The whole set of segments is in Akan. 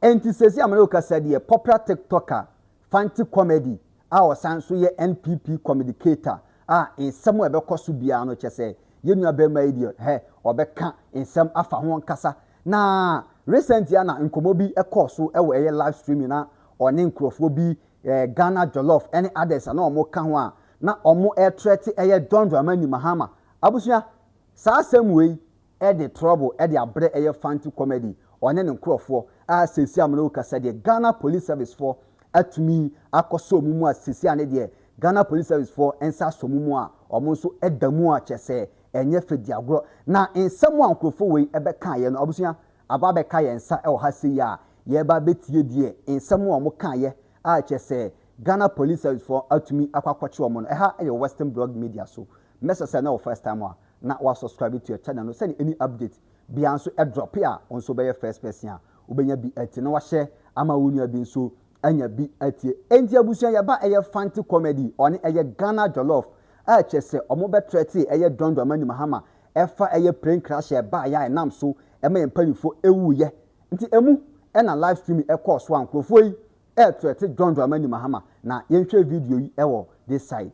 Enti seesei a me ne wo kasa deɛ, popular TikToker, Fanti Comedy a ɔsan nso yɛ NPP communicator a nsɛm a ɛbɛkɔ so biara no kyɛ sɛ yɛn nua barima yi deɛ hɛ, ɔbɛka nsɛm afa ho ankasa. Na recently ara na nkɔmmɔ bi kɔɔ so wɔ ɛyɛ live streaming na ɔne nkurɔfoɔ bi, eh, Ghana Jollof ne others a na wɔka ho a na wɔretrɛte ɛyɛ John Dramani Mahama. Abusua, saa asɛm wei, de trouble de abrɛ ɛyɛ fanti comedy ɔne ne nkorɔfoɔ a seesei a me ne wo kasa deɛ Ghana police service foɔ atumi akɔ sɔ ɔmo mu a seesei a ne deɛ Ghana police service foɔ nsa asɔ ɔmo mu a ɔmo nso da mu a kyerɛ sɛ ɛnyɛ fɛ di agorɔ na nsɛm a nkorɔfoɔ wei bɛkaeɛ no abusua aba abɛka yɛn nsa wɔ ha sei a yɛreba abɛtie deɛ nsɛm a ɔmo kaeɛ a kyerɛ sɛ Ghana police service foɔ atumi akɔ akɔkye ɔmo no ɛha yɛ Western Blog Media so mɛsɛ sɛ na wɔ first time a na wa subscribe to yɛ channel no sɛdeɛ any update biara nso drop a wo nso wobɛyɛ first person a wobɛnya bi atie na wahyɛ ama wo nua bi nso anya bi atie. Enti abusua yɛba ɛyɛ fanti comedy ɔne ɛyɛ Ghana jollof a kyerɛ sɛ ɔmo bɛ threaten ɛyɛ John Dramani Mahama ɛfa ɛyɛ plane crash a ɛbaeɛ a ɛnam so ɛma yɛn mpaninfoɔ ɛwuuiɛ nti ɛmu ɛna live streaming ɛkɔɔ so a nkorɔfoɔ yi ɛɛthreaten John Dramani Mahama na yɛnhwɛ video yi ɛwɔ this side.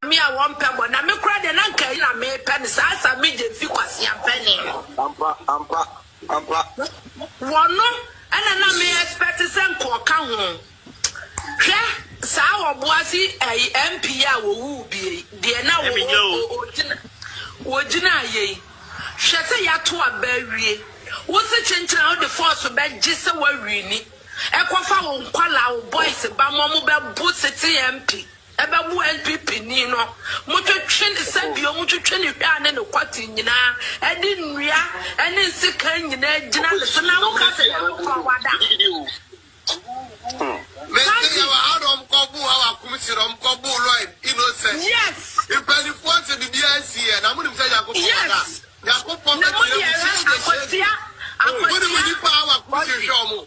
Me a wɔmpɛ bɔne. Na me koraa deɛ, na anka ɛyi na mepɛ, ne saa sa me gye mfi kwasea mpanin no. Ampa, ampa, ampa. Wɔno na na me expect sɛ nka ɔka ho. Hwɛ saa Obuasi ɛyi MP yi a wɔwuu bie yi, deɛ na o, o, o, ogyina, ogyinaeɛ yi. Hwɛ sɛ yɛato aba awie. Wose kyenkyen a wode force bɛgye sɛ woawini. Ɛkɔfa wo nkwadaa, wo boys ba ma wɔbɛbo sitting MP. Ɛbɛwo NPP ni no. Motwetwe ne sa bio, motwetwe ne hwɛa ne ne kɔte nyinaa, ɛde nnua ne nsekan nyinaa gyina ne so na moka sɛ Nyankopɔn wada. Yes! Yes! Na mode ɛhɛ akwatia, akwatia, wɔde.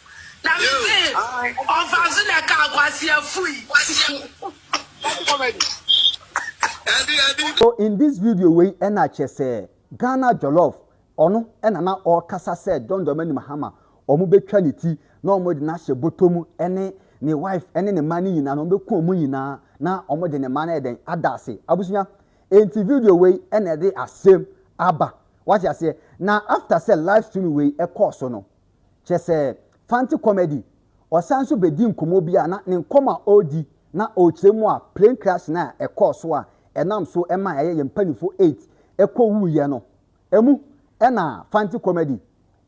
Na me se ɔfaso na ɛka akwaseafo yi. So in this video wei na kyerɛ sɛ Ghana jollof ɔno na na ɔkasa sɛ John Dramani Mahama ɔmo bɛtwa ne ti na ɔmo de no ahyɛ bɔtɔ mu ɛne ne wife ɛne ne mma no nyinaa na ɔmo bɛku ɔmo nyinaa na ɔmo de ne mma no ayɛ dɛn ada ase abusua enti video wei na ɛde asɛm aba wate aseɛ na after sɛ live stream wei ɛkɔɔ so no kyerɛ sɛ Fante Comedy. Ɔsan nso bedi nkɔmmɔ bi a na ne nkɔmmɔ a ɔredi na ɔrekyerɛ mu a plane crash no a ɛkɔɔ so a ɛnam so maa ɛyɛ yɛn mpanyimfo eight kowuiɛ no. Emu na Fante Comedy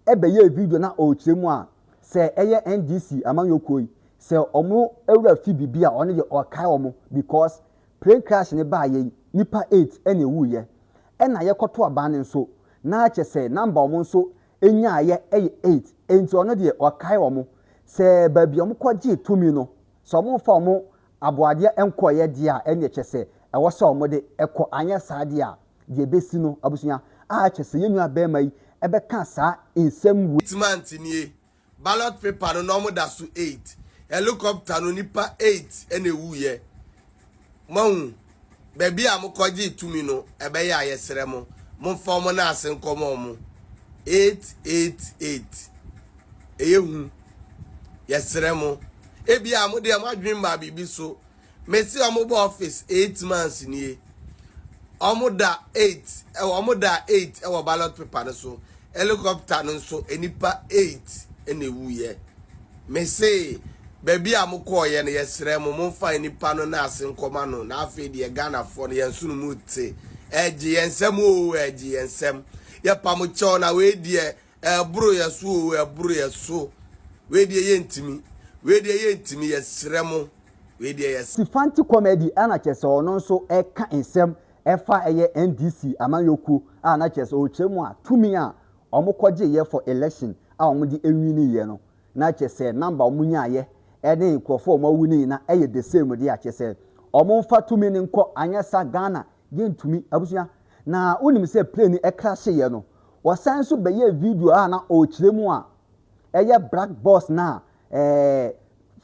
bɛyɛɛ video na ɔrekyerɛ mu a sɛ ɛyɛ NDC amanyɔkuo yi sɛ wɔn wura fi biribi a ɔno deɛ ɔrekae wɔn because plane crash no baeɛ yi nnipa eight na ɛwuiɛ. Ɛna yɛkɔto aban no nso na kyerɛ sɛ number wɔn nso nyaeɛ yɛ eight nti ɔno deɛ ɔkae wɔn sɛ baabi a wɔkɔgyee tumi no sɛ wɔmfa wɔn aboadeɛ nkɔeɛ deɛ a ɛnneɛ kyɛ sɛ ɛwɔ sɛ wɔde kɔ anyɛ saa deɛ a deɛ ɛbɛsi no abusua a kyɛ sɛ yɛn nua barima yi bɛka saa nsɛm wei. Timant nie, Ballot paper no na ɔmo da so eight helicopter no nipa eight na ewu yɛ moahu baabi a mo kɔ gyee tumi no ɛbɛyɛ a yɛ srɛ mo mo nfa ɔmo nan ase nkɔ ma ɔmo eight eight eight ɛyɛ hu yɛ srɛ mo ebia mo deɛ mo adwene mmaa biribi so Me se ɔmo bɔ office eight months nie, ɔmo da eight ɛwɔ ɔmo da eight ɛwɔ ballot paper no so, helicopter no nso nnipa eight ɛna ewuiɛ. Me se baabi a mo kɔɔyɛ no yɛsrɛ mo monfa nnipa no naase nkɔma no na afei deɛ Ghanafoɔ no yɛn nsono mu te, ɛɛgye yɛn nsam oo ɛɛgye yɛn nsam, yɛpa mo kyɛw na wei deɛ Ɛboro yɛn so oo, ɛboro yɛn so. Wei deɛ yɛntumi, wei deɛ yɛntumi, yɛsrɛ mo, wei deɛ yɛsrɛ. Sifanti Comedy a na kyerɛ sɛ ɔno nso reka nsɛm ɛfa ɛyɛ NDC amanyɔkuo a na kyerɛ sɛ ɔrekyerɛ mu a tumi a wɔkɔgyeeɛ for election a wɔde ɛwiniiɛ no na kyerɛ sɛ number a wɔnyaaeɛ ɛne nkorɔfoɔ a wɔawu no nyina ɛyɛ the same deɛ a kyerɛ sɛ wɔmfa tumi no nkɔ anyɛ sa Ghana Yɛntumi. Abusua, na wonim sɛ plane no crasheeɛ no, wɔsan nso bɛyɛɛ video a na ɔrekyerɛ mu a ɛyɛ black box no a ɛɛ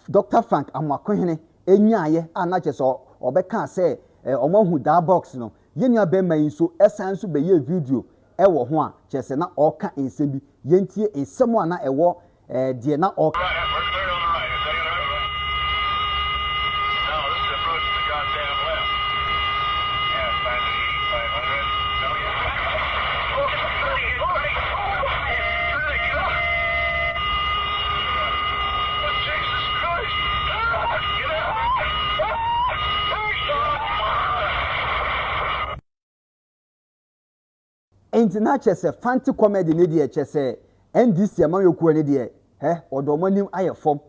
Dr. Frank Amoakohene nyaeɛ a na kyerɛ sɛ ɔbɛkaa sɛ ɛɛ wɔahu daa box no. Yɛn nua bɛrima yi nso san nso bɛyɛɛ video ɛwɔ ho a kyerɛ sɛ na ɔreka nsɛm bi. Yɛntie nsɛm a na ɛwɔ ɛɛ deɛ na ɔɔka. Enti na kyerɛ sɛ Fante comedy no deɛ kyerɛ sɛ NDC amanyɔkuo no deɛ hɛ ɔde wɔn anim ayɛ fam.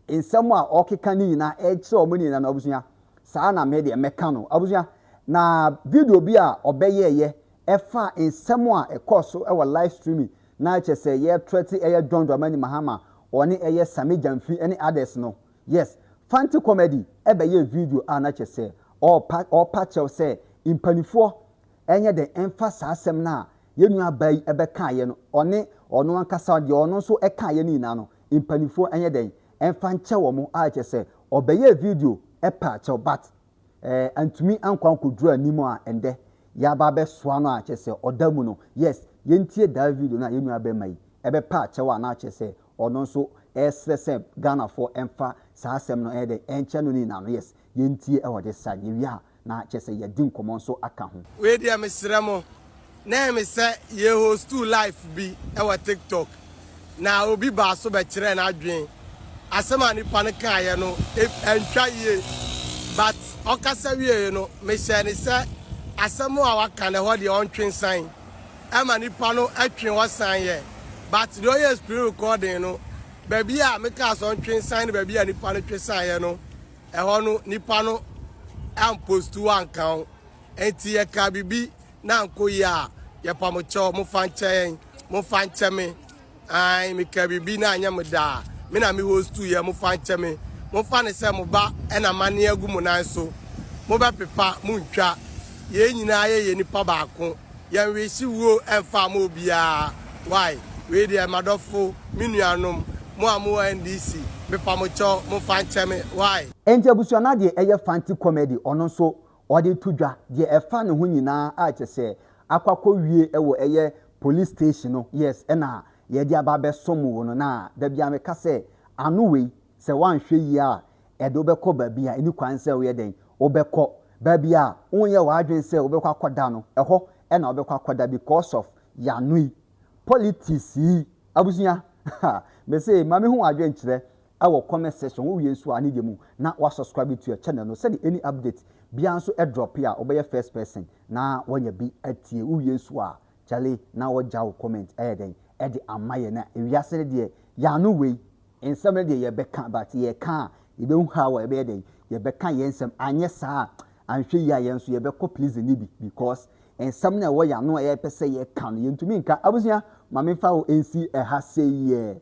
Nsɛm a ɔkeka no nyinaa ɛkyerɛ wɔn nyinaa no abusua. Saa na me deɛ mɛka no abusua. Na video bi a ɔbɛyɛɛyɛ ɛfa nsɛm a ɛkɔɔ so ɛwɔ live streaming na ɛkyerɛ sɛ yɛ threaten ɛyɛ John Dramani Mahama ɔne ɛyɛ Sammy Gyamfi ɛne others no. Yes Fante comedy ɛbɛyɛɛ video a na kyerɛ sɛ ɔɔpa ɔɔpa kyɛw sɛ mpanifoɔ ɛnyɛ den mfa saa asɛm no a yɛn nuabaa yi bɛkaeɛ no, ɔne ɔno ankasa deɛ ɔno nso kaeɛ no nyinaa no, mpanimfoɔ ɛnyɛ dɛn mfa nkyɛ wɔn a kyerɛ sɛ ɔbɛyɛɛ video paa kyɛw but ɛɛ antumi ankɔ ankɔduru anim a ɛndɛ yɛaba abɛsoa no a kyerɛ sɛ ɔda mu no yes yɛntie daa video no a yɛn nua bɛma yi ɛbɛpaa kyɛw a na kyerɛ sɛ ɔno nso ɛresrɛ sɛ Ghanafoɔ ɛmfa saa asɛm no ɛyɛ dɛn ɛnkyɛ no ne nyinaa no yes yɛntie ɛwɔ de sa yɛwie a Na kyerɛ sɛ yɛadi nkɔmmɔ nso aka ho. Wei deɛ mesrɛ mo na ɛme sɛ yɛ hostuu life bi wɔ tiktok na obi baa so bɛkyerɛɛ n'adwen asɛm a nipa no kaeɛ no antwa yie but ɔkasa wieeɛ no mehyɛɛ no sɛ asɛm a waka no ɛhɔ deɛ ɔntwe nsan ɛma nipa no twe hɔ san yɛ but deɛ ɔyɛɛ screen recording no baabi a mekaa sɛ ɔntwe nsan ne baabi a nipa no twe saeɛ no Ɛhɔ no nipa no ampost wo anka wo enti yɛkaa biribi na ankɔ yie a yɛpa mo kyɛw mofa nkyɛ yɛn mofa nkyɛ me ae mekaa biribi na anyɛ me daa me na me host yɛ mofa nkyɛ me mofa ne sɛ mo ba ɛna mane agu mo nan so mobɛpepa montwa yɛn nyinaa yɛyɛ nipa baako yɛn wese wuo mfaa mo obiara wai wei deɛ madɔfo me nuanom mo a mo wɔ NDC mepa mo kyɛw mo nfa nkyɛ me wai. Enti abusua no adeɛ ɛyɛ fanti comedy ɔno nso ɔde to dwa deɛ ɛfa ne ho nyinaa a kyɛsɛ akɔ akɔ wie wɔ ɛyɛ police station no yes ɛna yɛde aba abɛsom wo no na dabiaa meka sɛ ano wei sɛ woanhwɛ yie a ɛde wo bɛkɔ baabi a ɛni kwan sɛ woyɛ dɛn? Wobɛkɔ. Baabi a wonyɛ w'adwene sɛ wobɛkɔ akɔda no, ɛhɔ na wobɛkɔ akɔda because of y'ano yi, politics yi. Abusua, ha! Mese, ma me hu w'adwene kyerɛ ɛwɔ comment section, wo wie nso a ne deɛ mu na wa subscribe to your channel no sɛdeɛ any update biara nso ɛdrop a wobɛyɛ first person na wanya bi atie. Wo wie nso a, kyale na wagya wo comment ɛyɛ dɛn ɛde ama yɛn na ewiase no deɛ y'ano wei. Nsɛm no deɛ yɛbɛka but yɛka a yɛbɛhu how a yɛbɛyɛ dɛn yɛbɛka yɛn nsɛm anyɛ saa a anhwɛ yie a yɛn nso yɛbɛkɔ pleasing no bi because nsɛm no a ɛwɔ yɛn ano a yɛpɛ sɛ yɛka no yɛntumi nka. Abusua ma memfa wo nsi ɛha sei yɛ.